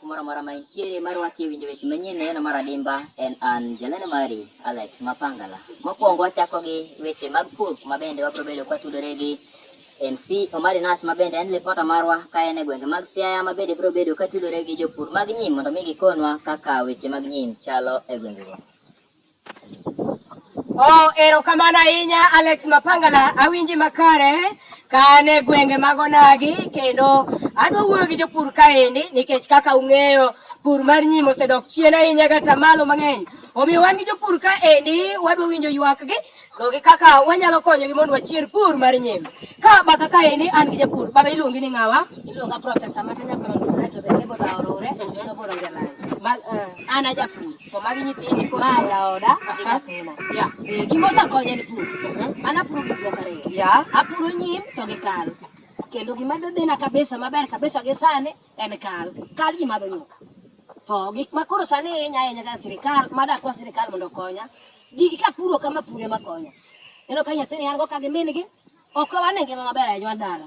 Kumoro mora ma intie mar waki e winjo weche manyien neno mar adimba en an jalendo mari Alex Mapangala. Mokwongo wachako gi weche mag pur kuma bende wabiro bedo kwa tudore gi MC Omari Nas ma bende en lipota marwa ka en e gwenge mag Siaya ma bende biro bedo ka tudore gi jopur mag nyim mondo mi gikonwa kaka weche mag nyim chalo e gwengego. Oh, erokamano ahinya Alex Mapangala, awinji makare ka an e gwenge mag Onagi kendo adwa wuoyo gi jopur kaendi nikech kaka ung'eyo pur mar nyim osedok chien ahinya kata malo mang'eny. Omiyo wan gi jopur kaendi wadwa winjo ywakgi to gi kaka wanyalo konyogi mondo wachier pur mar nyim. Ka batha kaendi an gi japur, baba iluongi ni ng'awa? Iluonga Profesa Matanya Kolongo Sinato, the table Aorore, Noboro Ngelanje. Eh. An ajapur. To magi nyithindi koro. Ma jaoda ema timo. Yeah. Eh, gima osakonya en pur. Uh-huh. An apuro gik moko ariyo. Yeah. Apuro nyim to gi kal. Kendo gima dodhina kabisa maber kabisa gi sani en kal. Kal ji madho nyuka. To gik ma koro sani hinya ahinya ka sirikal, madakwa sirikal mondo okonya. Gigi kapuro kama pure makonya. Neno ka nyathini an go ka gi min gi. Ok wane ngima maber ahinya dala.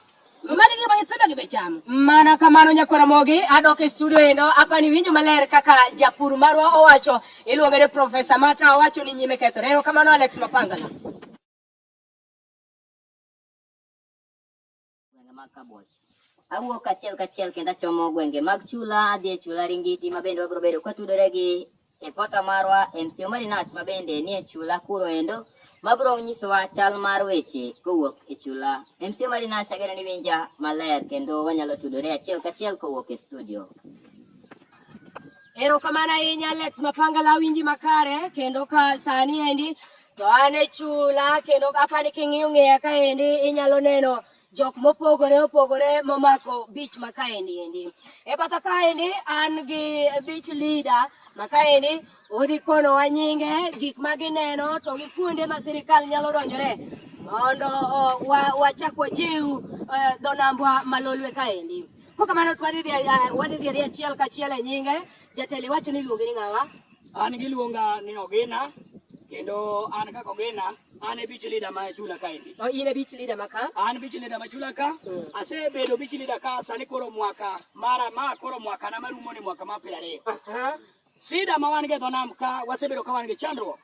Mani gima nyithindo gi be chamo. Mana kamano nyakwara mogi adok e studio endo apa ni winjo maler kaka japur marwa owacho iluonge ni Profesa Mata owacho ni nyime kethore. Ero kamano Alex Mapanga. Awuok kachiel kachiel kendo achomo gwenge mag chula adhi e chula Ringiti ma bende wabiro bedo kwatudore gi E pota marwa MC Omari Nash ma bende nie chula kuro endo mabro nyisowa chal mar weche kowuok e chula. MC Omari Nash ageno ni winja maler kendo wanyalo tudore achiel kachiel kowuok e studio. Erokamano ahinya Alex Mapangala winji makare kendo ka sani endi to an e chula kendo apani king'iyo ng'eya kaendi inyalo neno jok mopogore opogore momako beach ma kaendi endi. E batha kaendi an gi beach leader ma kaendi odhi konowa nyinge gik ma gineno to gi kuonde ma sirikal nyalo donjore mondo wachak wajiw e, dho nambwa malolwe kaendi. Kokamano wadhi dhi achiel kachiel e nyinge Jatelo iwacho ni iluonge ni ng'awa? An giluonga ni Ogina kendo an kaka Ogina an e beach leader ma chula ka endi. Oh, in e beach leader ma ka? An beach leader ma chula ka. Mm. Asebedo beach leader ka sani koro mwaka mara ma koro mwaka na marumo ni mwaka ma piero ariyo. Uh -huh. Sida ma wan go e dho nam ka wasebedo ka wan gi chandruok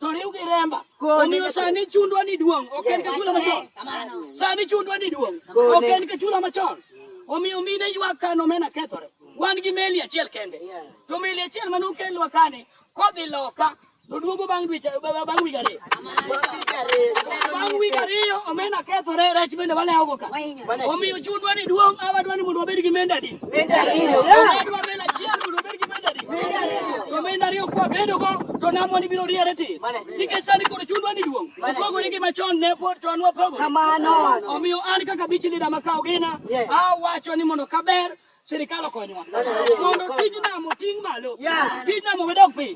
to riw gi remba. Omiyo sani chundwa ni duong' ok en ka chula machon. Sani chundwa ni duong' ok en ka chula machon. Omiyo mine ywak ka nomena kethore. Wan gi meli achiel kende. To meli achiel mane okelwa kani kodhi loka to duogo bang' dweche bang' wige ariyo. Bang' wige ariyo omena kethore rech bende walewogo ka. Omiyo chundwa ni duong' awadwa ni mondo wabed gi menda di. Menda ariyo. Awadwa menda achiel mondo wabed gi menda di. Menda ariyo. To menda ariyo kwa bedo go to namwa ni biro riere ti. Nikech sani koro chundwa ni duong'. Opogore gi machon ne pod chon wapogo. Kamano. Omiyo an kaka bichi lida makawo gina awacho ni mondo kaber Sirkal okonyowa mondo tij nam oting' malo, tij nam owedok piny.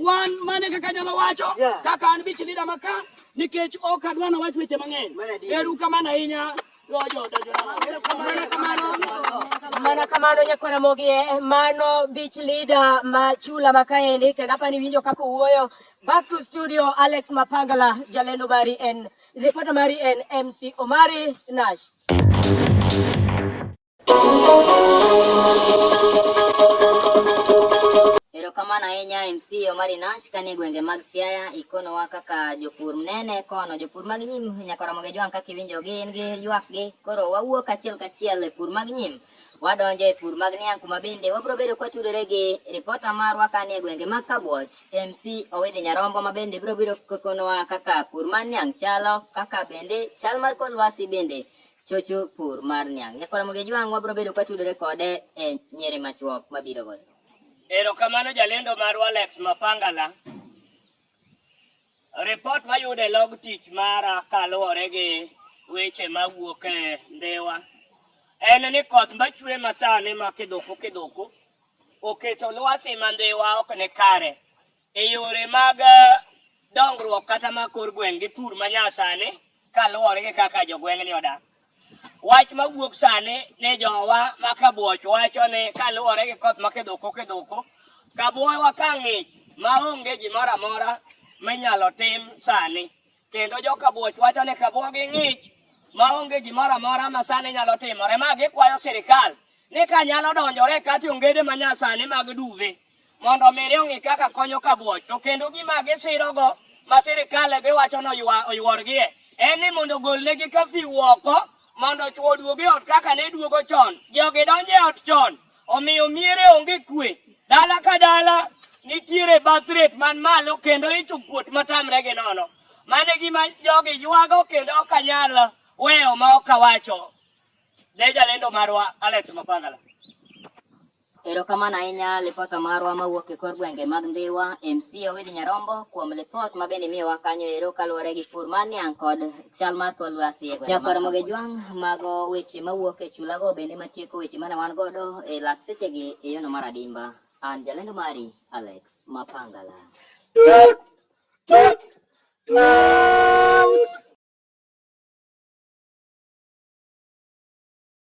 Wan mane kaka nyalo wacho kaka an bich lida maka nikech ok adwa na wach weche mang'eny. Eru kamano ahinya mana kamano nyakwara mogi eh, mano beach leader ma chula ma kaendi kendo apani winjo kaka owuoyo back to studio alex mapangala jalendo mari en reporter mari en mc omari nash Erokamano ahinya MC Omari Nash kanie gwenge mag Siaya ikonowa kaka jopur mnene kono jopur mag nyim nyaka Ramogi Jwang' kaka iwinjogi in gi ywakgi koro wawuok achiel kachiel e pur mag nyim wadonjo e pur mag niang' kuma bende wabiro bedo kwatudore gi ripota marwa kanie gwenge mag Kabuoch MC Owidhi Nyarombo ma bende biro biro konowa kaka pur mar niang' chalo kaka bende chal mar kor lwasi bende chocho pur mar niang'. Nyakwa Ramogi Ajwang' wabiro bedo ka tudore kode e nyere machuok mabiro goyo. Erokamano jalendo marwa Alex Mapangala. Ripot mayudo e log tich mara kaluwore gi weche mawuok e Ndhiwa en ni koth machwe masani ma kidhuku kidhuku oketo lwasi ma Ndhiwa ok ni kare e yore mag eh, dongruok kata ma kor gweng' gi pur ma nyasani kaluwore gi kaka jogweng'ni odak. Wach ma wuok sani ni jowa ma Kabuoch wacho ni kaluwore gi koth ma kidhoko kidhoko, Kabuoywa ka ng'ich ma onge gimoro amora minyalo tim sani. Kendo joka buoch wacho ni kabuogi ng'ich maonge gimoro amora ma sani nyalo timore ma gikwayo sirikal ni ka nyalo donjore kati ongede ma nyasani mag duve mondo miri ong'i kaka konyo kabuoch to kendo gima gisirogo ma sirikal giwacho ni oyworgie en ni mondo golnegi kafiu oko mondo chwo oduog e ot kaka ne duogo chon jogi donjo e ot chon omiyo miere onge kwe dala ka dala nitiere birth rate man malo kendo icho kuot matamre gi nono. Mane gima jogi ywago kendo ok anyal weyo ma ok awacho. Ne jalendo marwa Alex Mapangala. Erokamano ahinya lipota marwa mawuok e kor gwenge mag Ndhiwa, MC Owidhi Nyarombo kuom lipot ma bende imiyowa kanyo ero kaluwore gi pur mar niang' kod chal mar kor lwasi e gwenge. Nyakwar Moge Jwang' mago weche mawuok e chulago bende matieko weche mane wan godo e lak sechegi e yono mar adimba. An jalendo mari Alex Mapangala. Tut, tut, tut.